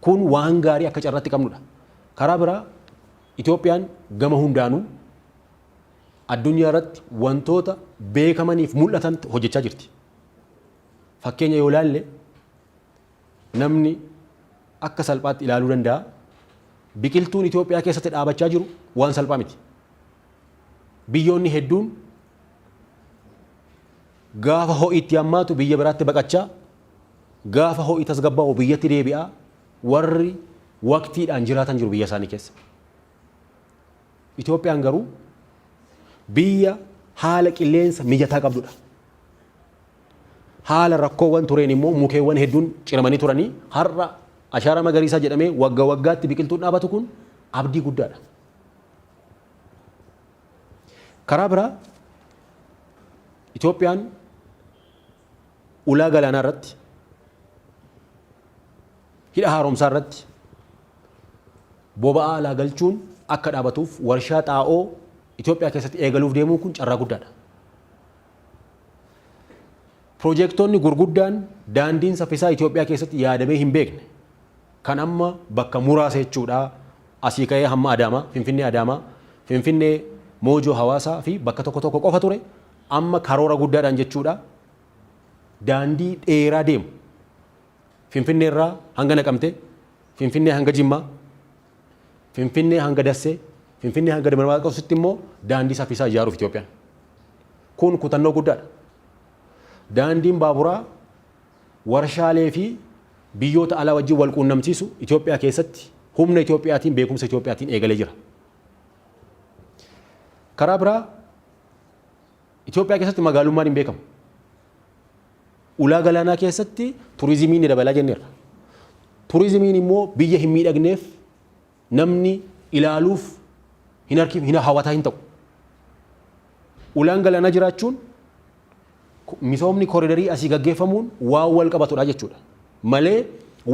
Kun waan gaarii akka carraatti qabnudha. Karaa biraa Itoophiyaan gama hundaanuu addunyaa irratti wantoota beekamaniif mul'atan hojjechaa jirti. Fakkeenya yoo ilaalle Namni akka salphaatti ilaaluu danda'a. Biqiltuun Itoophiyaa keessatti dhaabachaa jiru waan salphaa miti. Biyyoonni hedduun gaafa ho'i itti hammaatu biyya biraatti baqachaa, gaafa ho'i tasgabbaa'u biyyatti deebi'aa, warri waqtiidhaan jiraatan jiru biyya isaanii keessa. Itoophiyaan garuu biyya haala qilleensa mijataa qabdudha. Haala rakkoowwan tureen immoo mukeewwan hedduun ciramanii turanii har'a ashaaraa magariisaa jedhamee wagga waggaatti biqiltuun dhaabatu kun abdii guddaadha. Karaa biraa Itoophiyaan Ulaa galaanaa irratti, hidha haaromsaa irratti boba'aa alaa galchuun akka dhaabatuuf warshaa xaa'oo Itoophiyaa keessatti eegaluuf deemuun kun carraa guddaadha. Piroojeektoonni gurguddaan daandiin saffisaa Itoophiyaa keessatti yaadamee hin beekne kan amma bakka muraasa jechuudha asii ka'ee hamma Adaamaa, Finfinnee Adaamaa, Finfinnee Moojoo Hawaasaa fi bakka tokko tokko qofa ture Amma karoora guddaadhaan jechuudha daandii dheeraa deemu Finfinnee irraa hanga Naqamtee, Finfinnee hanga Jimmaa, Finfinnee hanga Dassee, Finfinnee hanga Dabra Maarqositti immoo daandii saffisaa ijaaruuf Itoophiyaan. Kun kutannoo guddaadha. Daandiin baaburaa warshaalee fi biyyoota alaa wajjin wal quunnamsiisu Itoophiyaa keessatti humna Itoophiyaatiin beekumsa Itoophiyaatiin eegalee jira. Karaa biraa Itoophiyaa keessatti magaalummaan hin beekamu. Ulaa galaanaa keessatti turizimiin ni dabalaa jenneerra. Turizimiin immoo biyya hin miidhagneef namni ilaaluuf hin harkiif hin hawwataa hin ta'u. Ulaan galaanaa jiraachuun misoomni koridarii asii gaggeeffamuun waan wal qabatudha jechuudha. Malee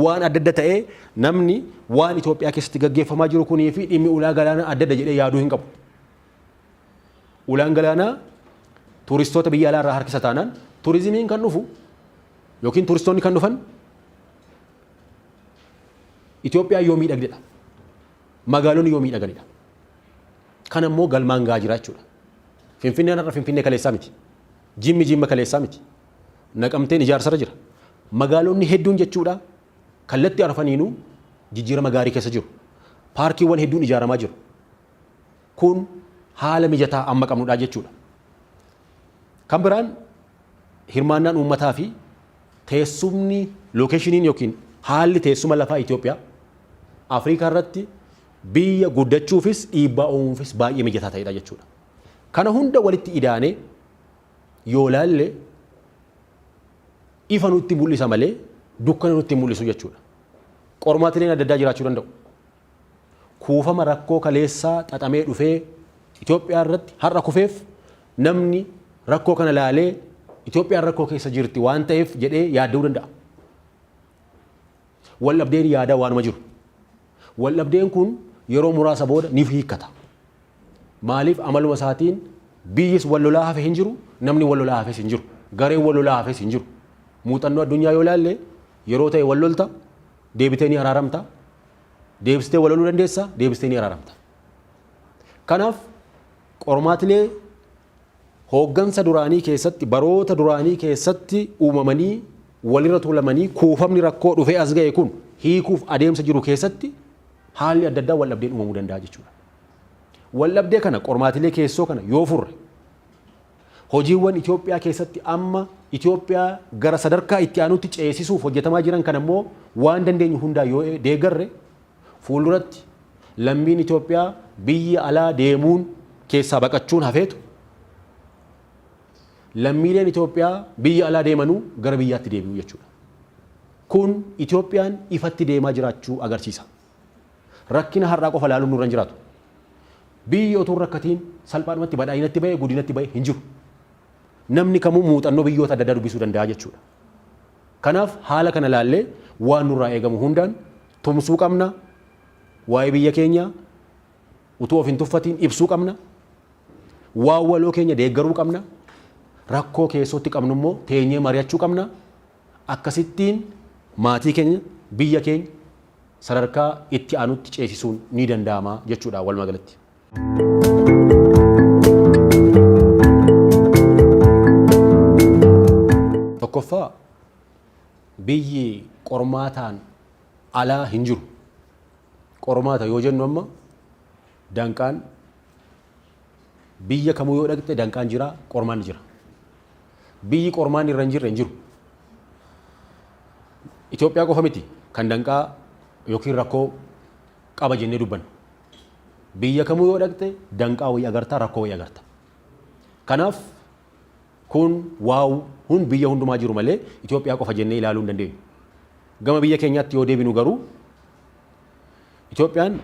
waan adda adda ta'ee namni waan Itoophiyaa keessatti gaggeeffamaa jiru kunii fi dhimmi ulaa galaanaa adda adda jedhee yaaduu hin qabu. Ulaan galaanaa tuuristoota biyya alaa irraa harkisa taanaan tuurizimiin kan dhufu yookiin tuuristoonni kan dhufan Itoophiyaa yoo miidhagdedha. Magaalonni yoo miidhaganidha. Kan ammoo galmaan gahaa jira jechuudha. Finfinneen har'a Finfinnee kaleessaa miti. Jimmi Jimma kaleessaa miti. Naqamteen ijaarsarra jira. Magaalonni hedduun jechuudha kallattii arfaniinuu jijjiirama gaarii keessa jiru. Paarkiiwwan hedduun ijaaramaa jiru. Kun haala mijataa amma qabnudha jechuudha. Kan biraan hirmaannaan uummataa fi teessumni lookeshiniin yookiin haalli teessuma lafaa Itoophiyaa Afrikaa irratti biyya guddachuufis dhiibbaa uumuufis baay'ee mijataa ta'edha jechuudha. Kana hunda walitti idaanee yoo ilaalle ifa nutti mul'isa malee dukkana nutti mul'isu jechuudha. Qormaatileen adda addaa jiraachuu danda'u. kuufama rakkoo kaleessaa xaxamee dhufee Itoophiyaa irratti har'a kufeef namni rakkoo kana laalee Itoophiyaan rakkoo keessa jirti waan ta'eef jedhee yaadda'uu danda'a. Waldhabdeen yaadaa waanuma jiru. Waldhabdeen kun yeroo muraasa booda ni hiikkata. Maaliif amaluma isaatiin biyyis wal lolaa hafe hin jiru, namni wal lolaa hafes hin jiru, gareen wal lolaa hafes hin jiru. Muuxannoo addunyaa yoo ilaalle yeroo ta'e wal lolta, deebitee ni araaramta, deebistee walaluu dandeessa, deebistee ni araaramta. Kanaaf qormaatilee hooggansa duraanii keessatti baroota duraanii keessatti uumamanii walirra tuulamanii kuufamni rakkoo dhufee as ga'e kun hiikuuf adeemsa jiru keessatti haalli adda addaa waldhabdeen uumamuu danda'a jechuudha. Waldhabdee kana qormaatilee keessoo kana yoo furre Hojiiwwan Itoophiyaa keessatti amma Itoophiyaa gara sadarkaa itti aanutti ceesisuuf hojjetamaa jiran kana immoo waan dandeenyu hundaan yoo deeggarre fuulduratti lammiin Itoophiyaa biyya alaa deemuun keessaa baqachuun hafeetu lammiileen Itoophiyaa biyya alaa deemanuu gara biyyaatti deebi'u jechuudha. Kun Itoophiyaan ifatti deemaa jiraachuu agarsiisa. Rakkina har'aa qofa ilaaluun nurra hin jiraatu. Biyyi otuu hin rakkatiin salphaadhumatti badhaadhinatti ba'e, guddinatti ba'e hin jiru. Namni kamuu muuxannoo biyyoota adda addaa dubbisuu danda'a jechuudha. Kanaaf haala kana ilaallee waan nurraa eegamu hundaan tumsuu qabna. Waa'ee biyya keenyaa utuu of hin tuffatiin ibsuu qabna. Waan waloo keenya deeggaruu qabna. Rakkoo keessootti qabnu immoo teenyee mari'achuu qabna. Akkasittiin maatii keenya, biyya keenya sadarkaa itti aanutti ceesisuun ni danda'ama jechuudha walumaa galatti. Tokkoffaa, biyyi qormaataan alaa hin jiru. Qormaata yoo jennu amma danqaan biyya kamuu yoo dhaqxe danqaan jira, qormaanni jira. Biyyi qormaanni irra hin jirre hin jiru. Itoophiyaa qofa miti kan danqaa yookiin rakkoo qaba jennee dubbannu. Biyya kamuu yoo dhaqxe danqaa wayii agarta, rakkoo wayii agarta. Kanaaf kun waa hun biyya hundumaa jiru malee Itoophiyaa qofa jennee ilaaluu hin dandeenyu. Gama biyya keenyaatti yoo deebinu garuu Itoophiyaan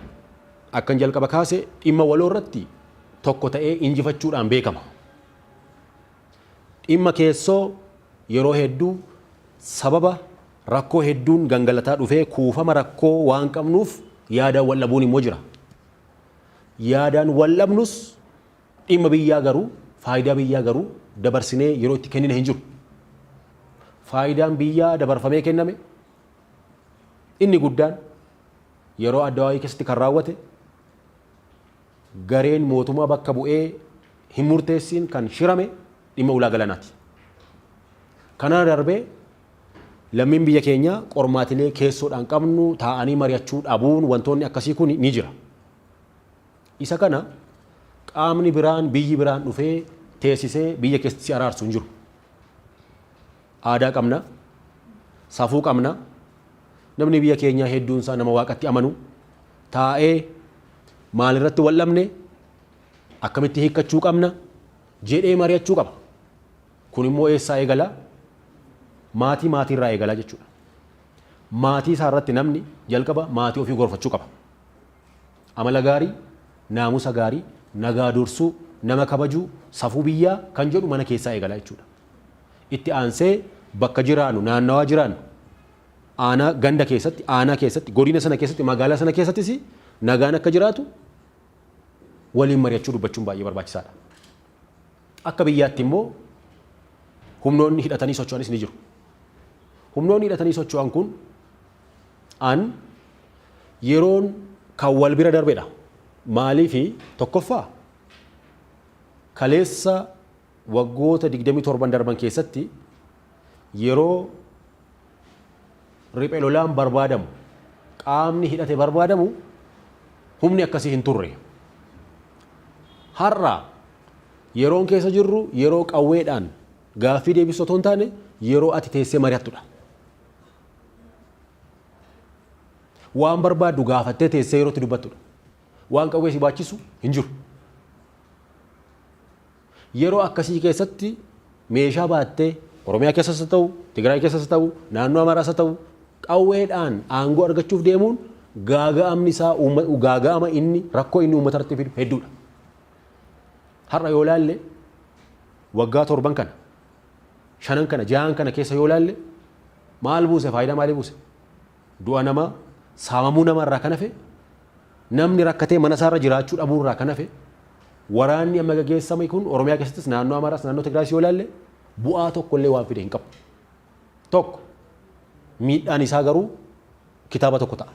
akkan jalqaba kaase dhimma waloo irratti tokko ta'ee injifachuudhaan beekama. Dhimma keessoo yeroo hedduu sababa rakkoo hedduun gangalataa dhufee kuufama rakkoo waan qabnuuf yaadaan wal dhabuun immoo jira. Yaadaan wal dhabnus dhimma biyyaa garuu faayidaa biyyaa garuu dabarsinee yeroo itti kennine hin jiru. Faayidaan biyyaa dabarfamee kenname inni guddaan yeroo Addawaawii keessatti kan raawwate gareen mootumaa bakka bu'ee hin murteessiin kan shirame dhimma ulaa galanaati. Kanaa darbee lammiin biyya keenyaa qormaatilee keessoodhaan qabnu taa'anii mari'achuu dhabuun wantoonni akkasii kun ni jira. Isa kana qaamni biraan biyyi biraan dhufee teessisee biyya keessatti si araarsu hin jiru. Aadaa qabna, safuu qabna, Namni biyya keenyaa hedduun isaa nama waaqatti amanu taa'ee maalirratti wal dhabne akkamitti hiikkachuu qabna jedhee mari'achuu qaba. Kun immoo eessaa eegala? Maatii maatiirraa eegala jechuudha. Maatii isaa irratti namni jalqaba maatii ofii gorfachuu qaba. Amala gaarii, naamusa gaarii, nagaa dursuu, nama kabajuu, safuu biyyaa kan jedhu mana keessaa eegala jechuudha. Itti aansee bakka jiraannu, naannawaa jiraannu, aanaa, ganda keessatti, aanaa keessatti, godina sana keessatti, magaalaa sana keessattis nagaan akka jiraatu waliin mari'achuu dubbachuun baay'ee barbaachisaadha. Akka biyyaatti immoo humnoonni hidhatanii socho'anis ni jiru. Humnoonni hidhatanii socho'an kun an yeroon kan wal bira darbedha. Maaliifi tokkoffaa kaleessa Waggoota 27n darban keessatti yeroo riphe lolaan barbaadamu, qaamni hidhate barbaadamu humni akkasii hin turre. Har'a yeroon keessa jirru yeroo qawweedhaan gaaffii deebistu otoo hin taane yeroo ati teessee mari'attudha. Waan barbaaddu gaafattee teessee yeroo itti dubbattudha. Waan qawwee si baachisu hin jiru. Yeroo akkasii keessatti meeshaa baattee Oromiyaa keessas haa ta'u, Tigraay keessas haa ta'u, naannoo Amaaraas haa ta'u qawweedhaan aangoo argachuuf deemuun gaaga'amni isaa gaaga'ama inni rakkoo inni uummata irratti fidu hedduudha. Har'a yoo ilaalle waggaa torban kana shanan kana jahan kana keessa yoo ilaalle maal buuse faayidaa maalii buuse? Du'a namaa, saamamuu namaa irraa kan hafe, namni rakkatee mana isaa irra jiraachuu dhabuu irraa kan hafe, waraanni amma gaggeessame kun Oromiyaa keessattis naannoo Amaaraas naannoo Tigraayis yoo ilaalle bu'aa tokko illee waan fide hin qabu. Tokko miidhaan isaa garuu kitaaba tokko ta'a.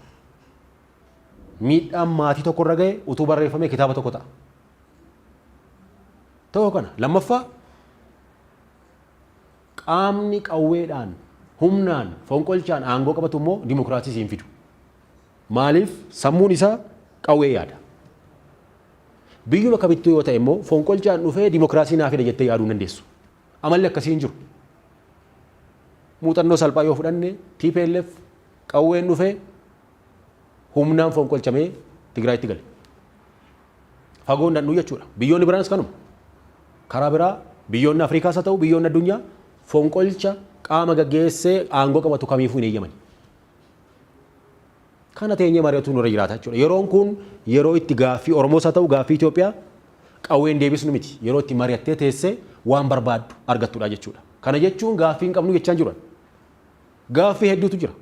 Miidhaan maatii tokko irra ga'e utuu barreeffamee kitaaba tokko ta'a. Tokko kana lammaffaa Qaamni qawweedhaan, humnaan, fonqolchaan aangoo qabatu immoo dimokiraasiis hin fidu. Maaliif? Sammuun isaa qawwee yaada. Biyyuma kamittuu yoo ta'e immoo fonqolchaan dhufee dimokiraasii naa fida jettee yaaduu hin dandeessu. Amalli akkasii hin jiru. Muuxannoo salphaa yoo fudhanne TPLF qawween dhufee humnaan fonqolchamee Tigraayitti gale. fagoo hin dhaqnu jechuudha. Biyyoonni biraanis kanuma. Karaa biraa biyyoonni Afrikaas haa ta'u biyyoonni addunyaa fonqolcha qaama gaggeessee aangoo qabatu kamiifuu hin eeyyamani. Kana teenyee mari'atuu nurra jiraata jechuudha. Yeroon kun yeroo itti gaaffii Oromoos haa ta'u gaaffii Itoophiyaa qawween deebisnu miti. Yeroo itti mari'attee teessee waan barbaaddu argattudha jechuudha. Kana jechuun gaaffii hin qabnu jechaa hin jiru. Gaaffii hedduutu jira.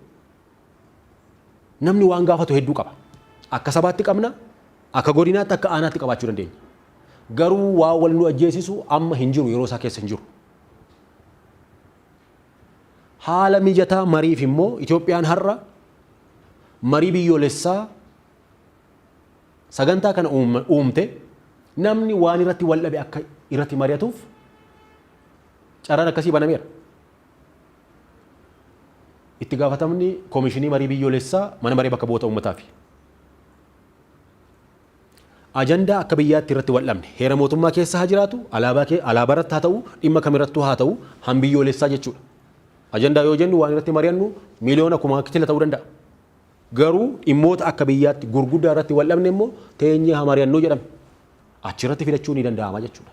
Namni waan gaafatu hedduu qaba. Akka sabaatti qabna, akka godinaatti, akka aanaatti qabaachuu dandeenya. Garuu waa wal nu ajjeesisu amma hin jiru, yeroo isaa keessa hin jiru. Haala mijataa mariif immoo Itoophiyaan har'a marii biyyoolessaa sagantaa kana uumte namni waan irratti wal dhabe akka irratti mari'atuuf carraan akkasii banameera. Itti gaafatamni Komishinii Marii Biyyoolessaa Mana Maree Bakka Bu'oota Uummataa fi ajandaa akka biyyaatti irratti wal dhabne heera mootummaa keessa haa jiraatu, alaabaa kee alaabaa irratti haa ta'u, dhimma kam irrattuu haa ta'u han biyyoolessaa jechuudha. Ajandaa yoo jennu waan irratti mari'annu miliyoona kumaa kitila ta'uu danda'a. Garuu dhimmoota akka biyyaatti gurguddaa irratti wal dhabne immoo teenyee haa mari'annu jedhame. Achirratti filachuu ni danda'ama jechuudha.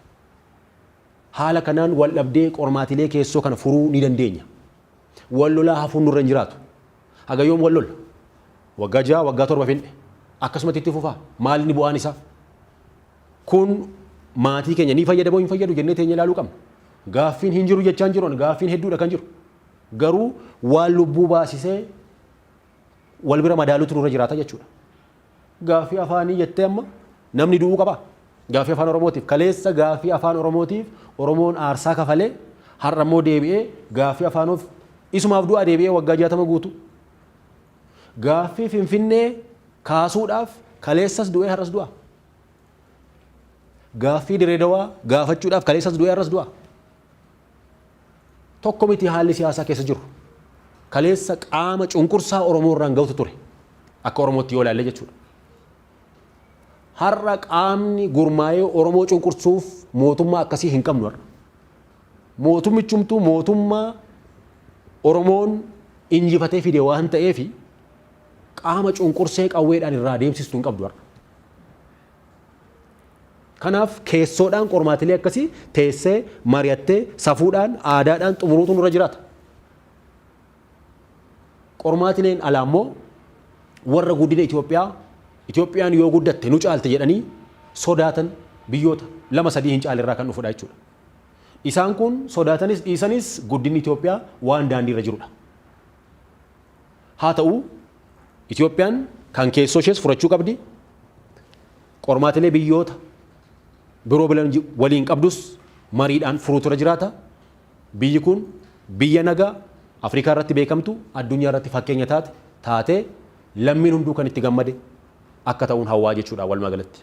Haala kanaan waldhabdee qormaatilee keessoo kana furuu ni dandeenya. Wal lolaa hafuun nurra hin jiraatu. Haga yoom wal lolla? Waggaa ja'a, waggaa torba finne. Akkasumatti itti fufaa? Maal inni bu'aan isaa? Kun maatii keenya ni fayyada moo hin fayyadu jennee teenyee ilaaluu qabna. Gaaffiin hin jiru jechaa hin jiru ani gaaffiin hedduudha kan jiru. Garuu waan lubbuu baasisee wal bira madaaluutu nurra jiraata jechuudha. Gaaffii afaanii jettee amma namni du'uu qabaa? Gaaffii afaan Oromootiif kaleessa gaaffii afaan Oromootiif Oromoon aarsaa kafalee har'a immoo deebi'ee gaaffii afaanoof isumaaf du'aa deebi'ee waggaa jaatama guutu. Gaaffii Finfinnee kaasuudhaaf kaleessas du'ee har'as du'aa? Gaaffii Direedawaa gaafachuudhaaf kaleessas du'ee har'as du'aa? Tokko miti haalli siyaasaa keessa jiru. Kaleessa qaama cunqursaa Oromoo irraan ga'utu ture. Akka Oromootti yoo ilaalle jechuudha. Har'a qaamni gurmaa'ee Oromoo cunqursuuf mootummaa akkasii hin qabnu har'a. Mootummichumtuu mootummaa Oromoon injifatee fide waan ta'eef qaama cunqursee qawweedhaan irraa deemsistu hin qabdu har'a. Kanaaf keessoodhaan qormaatilee akkasii teessee, mari'attee, safuudhaan, aadaadhaan xumuruutu nurra jiraata. Qormaatileen alaa immoo warra guddina Itoophiyaa, Itoophiyaan yoo guddatte nu caalti jedhanii sodaatan biyyoota lama sadii hin caale irraa kan dhufudha jechuudha. Isaan kun sodaatanis dhiisanis guddinni Itoophiyaa waan daandiirra jirudha. Haa ta'u, Itoophiyaan kan keessoo ishees furachuu qabdi, qormaatilee biyyoota biroo waliin qabdus mariidhaan furuutu irra jiraata. Biyyi kun biyya nagaa Afrikaa irratti beekamtu, addunyaa irratti fakkeenya taate taatee lammiin hunduu kan itti gammade akka ta'uun hawwaa jechuudha walumaagalatti.